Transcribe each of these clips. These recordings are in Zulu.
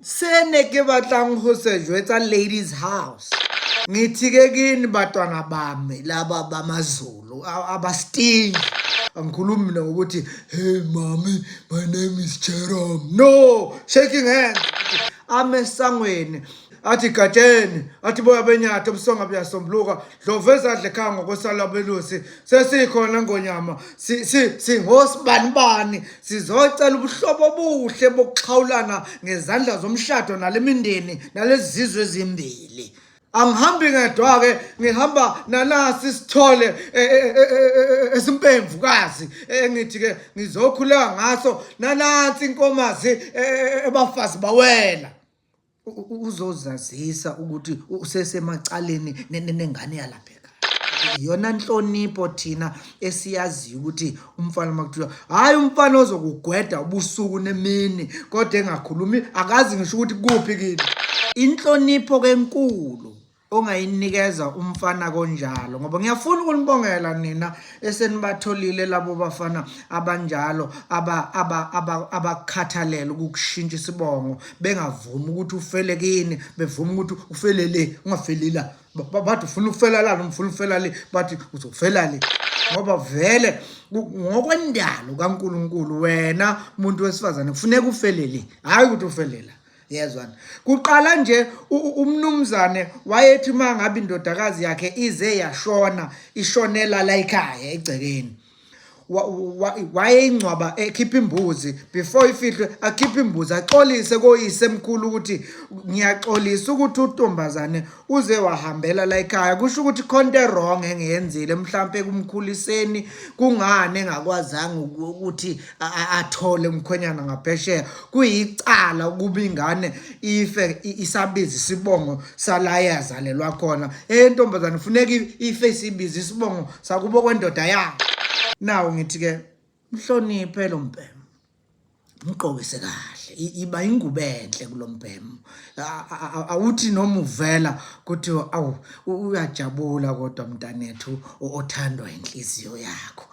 se ne ke batlang ho se jwetsa ladies house ngithike kini batwana bami laba bamazulu abasting angikhulumi mina ngokuthi hey mami my name is jerome no shaking hands amesangweni athi gatsheni athi boya benyathi ubusonga buyasombuluka Ndlovu ezadla ekhaya ngokwesala belusi sesikhona ngonyama singosibanibani sizocela ubuhlobo obuhle bokuxhawulana ngezandla zomshado nale mindeni nalezi zizwe ezimbili angihambi ngedwa-ke ngihamba nanasi sithole e, e, e, esimpemvukazi engithi-ke ngizokhuleka ngaso nanansi inkomazi ebafazi bawela uzozazisa ukuthi usesemacaleni nengane yalapheka yona nhlonipho thina esiyaziyo ukuthi umfana makuthiwa hayi umfana ozokugweda ubusuku nemini kodwa engakhulumi akazi ngisho ukuthi kuphi kini inhlonipho kenkulu ongayinikeza umfana konjalo ngoba ngiyafuna ukunibongela nina esenibatholile labo bafana abanjalo abakhathalele aba, aba ukukushintsha isibongo bengavumi ukuthi ufele kini bevuma ukuthi ufele le ungafeli la bathi ufuna ukufela la noma ufuna ukufela le bathi uzofela le ngoba vele ngokwendalo kaNkuluNkulu wena muntu wesifazane kufuneka ufelele hayi ukuthi ufelela yezwana kuqala nje umnumzane wayethi uma ngabe indodakazi yakhe ize yashona ishonela la ekhaya egcekeni wayeyingcwaba ekhipha imbuzi before ifihlwe akhiphe imbuzi axolise koyise mkhulu ukuthi ngiyaxolisa ukuthi utombazane uze wahambela la ekhaya kusho ukuthi khonto erong engiyenzile mhlampe kumkhuliseni kungani engakwazanga ukuthi athole umkhwenyana ngaphesheya kuyicala ukuba ingane ife isabiza isibongo sala yazalelwa khona entombazane funeka ife isibiza isibongo sakubo kwendoda yakhe nawo ngithi-ke mhloniphe lo mbhema mgqokise kahle iba ingubo enhle kulombhemu awuthi noma uvela kuthi awu uyajabula kodwa mntanethu othandwa inhliziyo yakho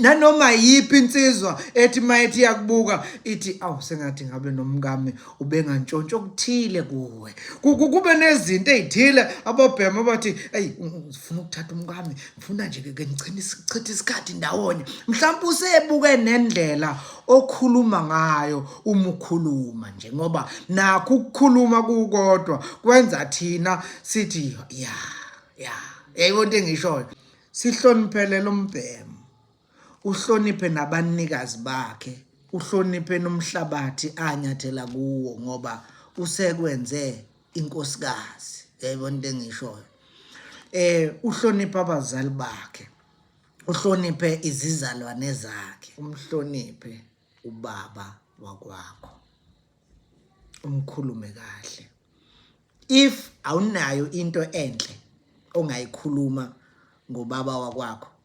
nanoma yiphi insizwa ethi mayithi yakubuka ithi awu sengathi ngabe nomkami ubengantshontsho okuthile kuwe kube nezinto ezithile abobhemu abathi hey ufuna ukuthatha umkami funa nje ke ngicela isichitha isikhathi ndawonye mhlawumbe usebuke nendlela okhuluma ngayo uma ukhuluma nje ngoba nakho ukukhuluma kukodwa kwenza thina sithi ya ya yayibona into engishoyo sihloniphele lo mbhemu uhloniphe nabanikazi bakhe uhloniphe nomhlabathi anyathela kuwo ngoba usekwenze inkosikazi yayibona into engishoyo eh uhloniphe abazali bakhe uhloniphe izizalwane zakhe umhloniphe ubaba wakwakho umkhulume kahle if awunayo into enhle ongayikhuluma ngobaba wakwakho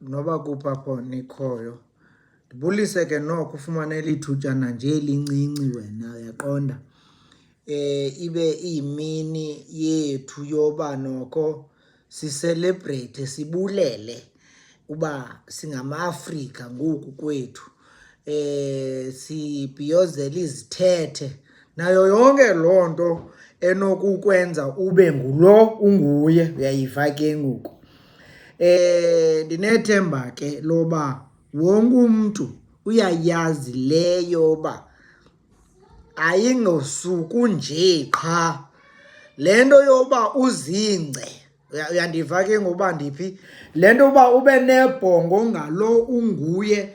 noba kuphi apho nikhoyo ndibulise ke noko ufumane elithutyana nje elincinci wena uyaqonda eh ibe iyimini yethu yoba noko sicelebrate sibulele uba singama-afrika ngoku kwethu eh sibhiyozela izithethe nayo yonke loo nto enokukwenza ube ngulo unguye uyayiva ke ngoku Eh ndinethemba ke loba wonke umuntu uyayazi leyo ba ayingosuku nje qha le nto yoba uzingce uyandiva ke ngoba ndiphi le nto yoba ube nebhongo ngalo unguye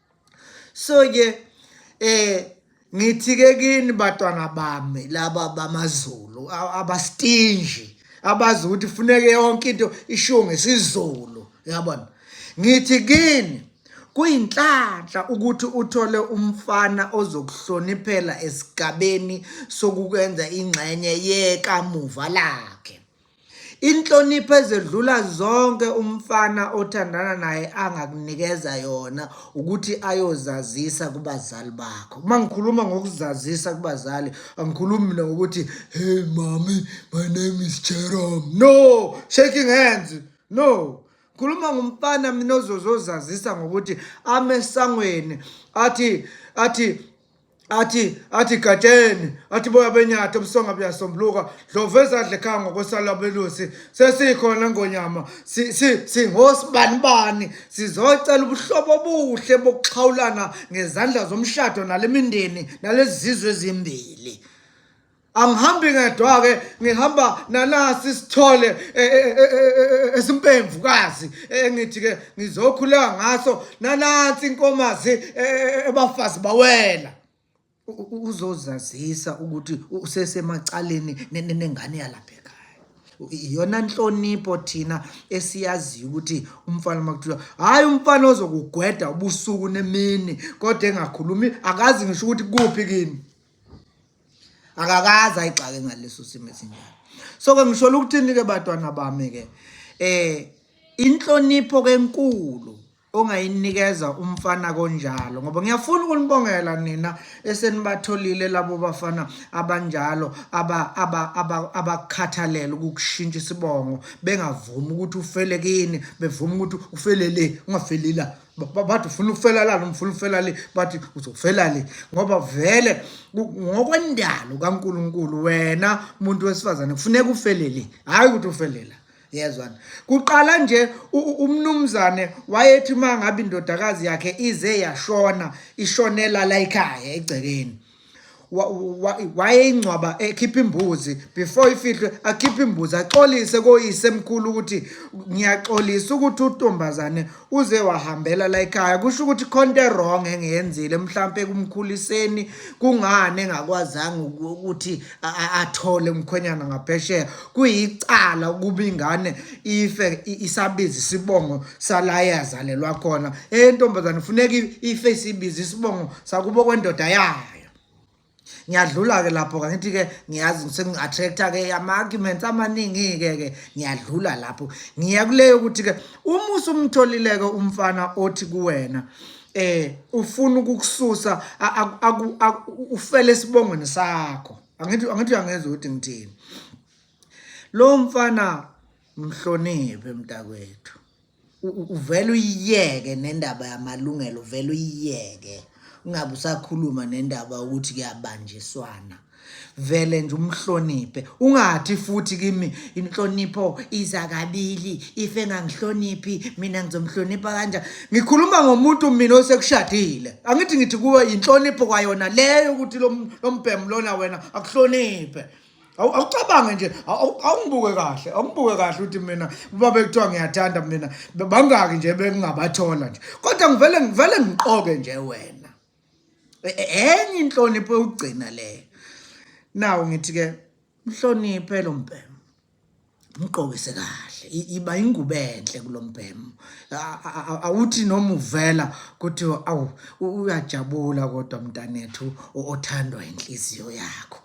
so ke eh ngithi ke kini batwana bami laba bamazulu abastinji abazi ukuthi funeke yonke into ishiwo ngesizulu yabona ngithi kini kuyinhlanhla ukuthi uthole umfana ozokuhloniphela esigabeni sokukwenza ingxenye yekamuva lakhe Inhlonipho ezedlula zonke umfana othandana naye angakunikeza yona ukuthi ayozazisa kubazali bakho. Uma ngikhuluma ngokuzazisa kubazali, angikhulumi mina ngokuthi hey mami, my name is Jerome. No, shaking hands. No. Khuluma ngomfana mina ozozozazisa ngokuthi amesangweni athi athi athi athi gatsheni athi boya benyatha ubusonga buyasombuluka dlovu ezadla ekhaya ngokwesala belusi sesikhona ngonyama singosibanibani sizocela ubuhlobo obuhle bokuxhawulana ngezandla zomshado nale mindeni nalezi zizwe ezimbili angihambi ngedwa-ke ngihamba nanasi isithole e, e, e, esimpemvukazi engithi-ke ngizokhuleka ngaso nanansi inkomazi ebafazi bawela uzozazisa ukuthi usesemacaleni nengane yalapha ekhaya iyona nhlonipho thina esiyaziyo ukuthi umfana uma kuthiwa hhayi umfana ozokugweda ubusuku nemini kodwa engakhulumi akazi ngisho ukuthi kuphi kini akakaze ayigxake ngaleso simo esinjalo so ke ngisholo ukuthini ke batwana bami ke eh inhlonipho kenkulu ongayinikeza umfana konjalo ngoba ngiyafuna ukunibongela nina esenibatholile labo bafana abanjalo abakhathalela ukukushintsha isibongo bengavumi ukuthi ufele kini bevuma ukuthi ufele le ungafelela bathi ufuna ukufela la noma ufuna ukufela le bathi uzofela le ngoba vele ngokwendalo kaNkuluNkulu wena umuntu wesifazane kufuneka ufelele hayi ukuthi ufelela yezwana kuqala nje umnumzane wayethi uma ngabe indodakazi yakhe ize yashona ishonela la ekhaya egcekeni wayeyingcwaba ekhipha imbuzi before ifihlwe akhiphe imbuzi axolise koyise mkhulu ukuthi ngiyaxolisa ukuthi utombazane uze wahambela la ekhaya kusho ukuthi khonto erong engiyenzile mhlampe kumkhuliseni kungani engakwazanga ukuthi athole umkhwenyana ngaphesheya kuyicala ukuba ingane ife isabiza isibongo sala yazalelwa khona entombazane funeka ife isibiza isibongo sakubo kwendoda yayo ngiyadlula-ke lapho kangithi-ke ngiyazi sengi-attract-a-ke ama-arguments amaningi-ke ke ngiyadlula lapho ngiya kuleyo ukuthi-ke uma usumtholile-ke umfana othi kuwena eh ufuna ukukususa ufele esibongweni sakho angithi angithi angezwa ukuthi ngithini lo mfana mhloniphe mntakwethu uvela uyiyeke nendaba yamalungelo uvela uyiyeke ungabe usakhuluma nendaba ukuthi kuyabanjiswana vele nje umhloniphe ungathi futhi kimi inhlonipho iza kabili if engangihloniphi mina ngizomhlonipha kanjani Ngikhuluma ngomuntu mina osekushadile. Angithi ngithi kuwe inhlonipho kwayona leyo ukuthi lo mbhemu lona wena akuhloniphe. Awucabange nje awungibuke kahle awungibuke kahle ukuthi mina uba bekuthiwa ngiyathanda mina bangaki nje bengingabathola nje kodwa ngivele ngivele ngiqoke nje wena e, e, enye inhlonipho yokugcina leyo nawu ngithi-ke mhloniphe lo mbhemu mgqokise kahle iba ingubo enhle kulombhemu awuthi noma uvela kuthi awu uyajabula kodwa mntanethu othandwa inhliziyo yakho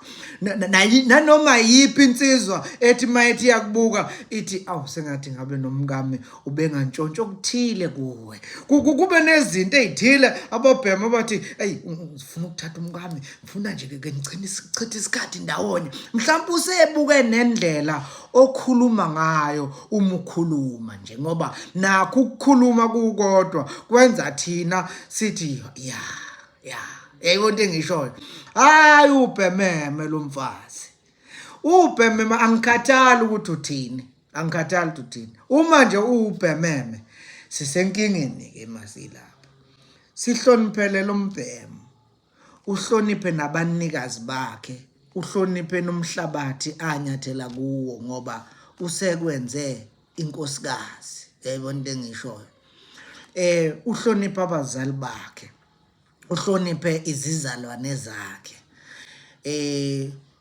nanoma yiphi insizwa ethi mayithi yakubuka ithi awu sengathi ngabe nomkami ubengantshontsho okuthile kuwe kube nezinto ezithile abobhemu abathi hey ngifuna ukuthatha umkami funa nje ke ngicela sichithe isikhathi ndawonye mhlawumbe usebuke nendlela okhuluma ngayo uma ukhuluma nje ngoba nakho ukukhuluma kukodwa kwenza thina sithi ya ya yayiko into engishoyo hayi ubhememe lo mfazi ubhememe angikhathali ukuthi uthini angikhathali ukuthi uthini uma nje uwubhememe sisenkingeni ke masilapha sihloniphele lo mbhemo uhloniphe nabanikazi bakhe uhloniphe nomhlabathi anyathela kuwo ngoba usekwenze inkosikazi yayibona into engishoyo eh uhloniphe abazali bakhe uhloniphe izizalwane zakhe eh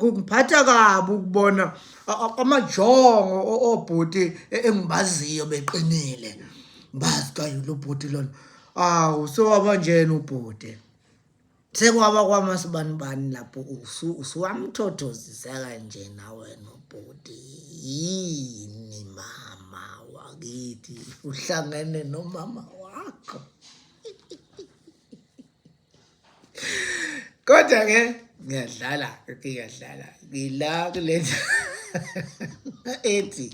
Kungiphatha kabi ukubona amajongo obhuti e-, engibaziyo beqinile. Bazi kayilo bhuti lona. Awu sewaba njena ubhuti. Sekwaba kwamasibani bani lapho usu usuwamthothozisa kanje nawe nobhuti. Yini mama wakithi uhlangene nomama wakho. kodwa ke ngiyadlala ngiyadlala ngila kule ethi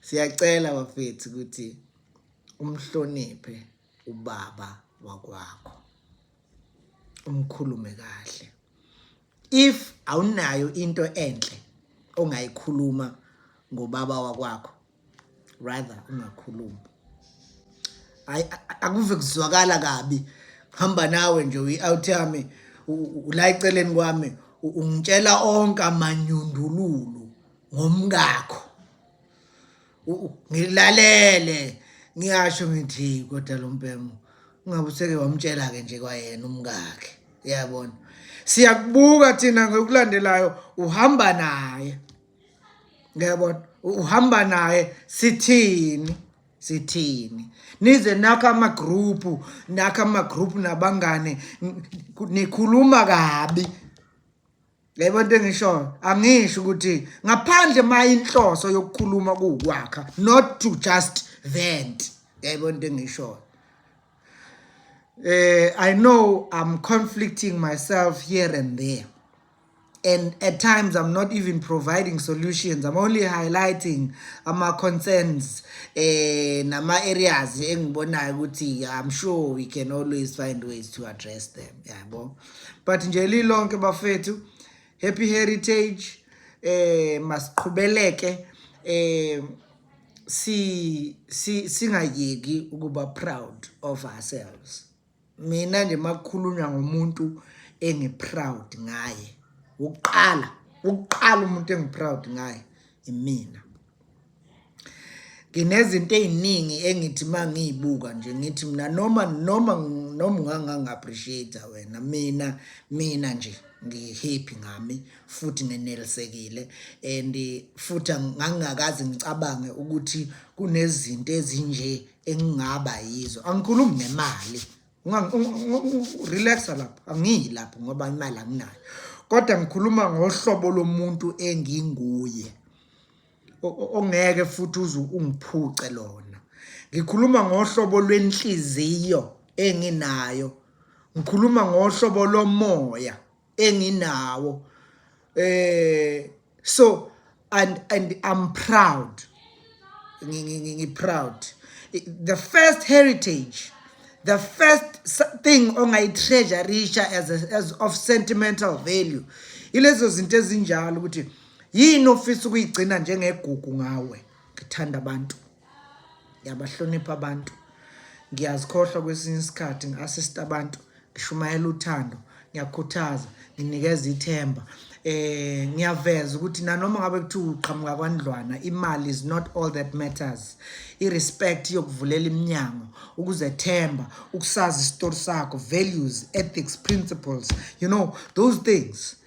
siyacela bafethu ukuthi umhloniphe ubaba wakwakho umkhulume kahle if awunayo into enhle ongayikhuluma ngobaba wakwakho rather ungakhulumi hayi akuve kuzwakala kabi hamba nawe nje uyi-out yami ula eceleni kwami ungitshela onke amanyundululu ngomkakho ngilalele ngiyasho ngithi kodwa lo mpemo ungabe useke wamtshela-ke nje kwayena umkakhe uyabona siyakubuka thina ngokulandelayo uhamba naye ngiyabona uhamba naye sithini sithini nize nakho amagroupu nakho amagroupu nabangane nikhuluma kabi yebo into engishoyo angisho ukuthi ngaphandle uma inhloso yokukhuluma kuwukwakha not to just vent yebo into engishoyo eh i know i'm conflicting myself here and there and at times i'm not even providing solutions i'm only highlighting ama-concerns eh nama-areas engibonayo ukuthi i'm sure we can always find ways to address them yabo yeah, but nje lilonke bafethu happy heritage eh masiqhubeleke eh si singayeki ukuba proud of ourselves mina nje makukhulunywa ngomuntu engiproud ngaye ukuqala ukuqala umuntu engiproud ngaye imina nginezinto eziningi engithi mangiyibuka nje ngithi mina noma noma noma ungangangiappreciate wena mina mina nje ngihappy ngami futhi ngenelisekile and futhi ngangingakazi ngicabange ukuthi kunezinto ezinje engingaba yizo angikhulumi ngemali relaxa lapho angiyi lapho ngoba imali anginayo kodwa ngikhuluma ngohlobo lomuntu enginguye ongeke futhi uze ungiphuce lona ngikhuluma ngohlobo lwenhliziyo enginayo ngikhuluma ngohlobo lomoya enginawo eh so and and I'm proud ngiproud the first heritage the first thing ongayitreasurisha as, a, as of sentimental value ilezo zinto ezinjalo ukuthi yini ofisa ukuyigcina njengegugu ngawe ngithanda abantu ngiyabahlonipha abantu ngiyazikhohlwa kwesinye isikhathi ngi-assist abantu ngishumayela uthando ngiyakhuthaza nginikeza ithemba eh ngiyaveza ukuthi nanoma ngabe kuthi uqhamuka kwandlwana imali is not all that matters irespect yokuvulela iminyango ukuzethemba ukusazi isitori sakho values ethics principles you know those things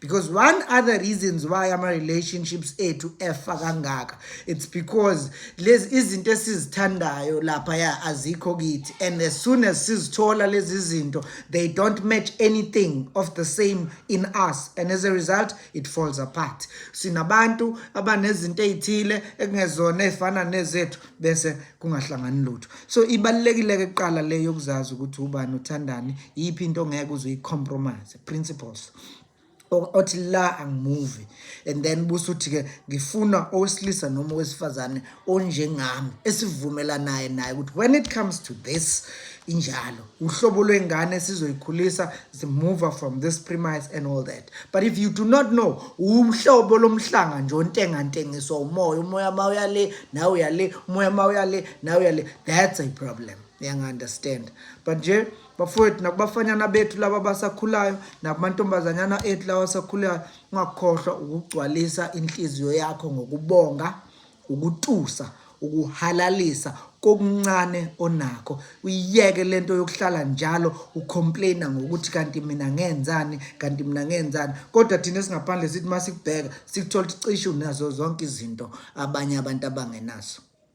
because one other reasons why ama-relationships ethu efa kangaka it's because lezi izinto esizithandayo laphaya azikho kithi and as soon as sizithola lezi zinto they don't match anything of the same in us and as a result it falls apart sinabantu abanezinto ey'thile ekungezona ey'fana nezethu bese kungahlangani lutho so ibalulekile-ke kuqala le yokuzazi ukuthi ubani uthandani yiphi into ongeke uze uyicompromise principles othi la angimuvi and then busuthi ke ngifuna owesilisa noma owesifazane onjengami esivumelanayo naye ukuthi when it comes to this injalo uhlobo lwengane sizoyikhulisa zimuva from this premise and all that but if you do not know umhlobo lomhlanga nje ontengantengiswa umoya umoya ma uyale nawe uyale umoya ma uyale nawe uyale that's a problem uyangi-understand but nje bafowethu nakubafanyana bethu laba abasakhulayo nakumantombazanyana ethu lawa asakhulayo ungakhohlwa ukugcwalisa inhliziyo yakho ngokubonga ukutusa ukuhalalisa kokuncane onakho uyiyeke lento yokuhlala njalo ucomplaina ngokuthi kanti mina ngenzani kanti mina ngenzani kodwa thina singaphandle sithi masikubheka sikuthola ukuthi cishe unazo zonke izinto abanye abantu abangenazo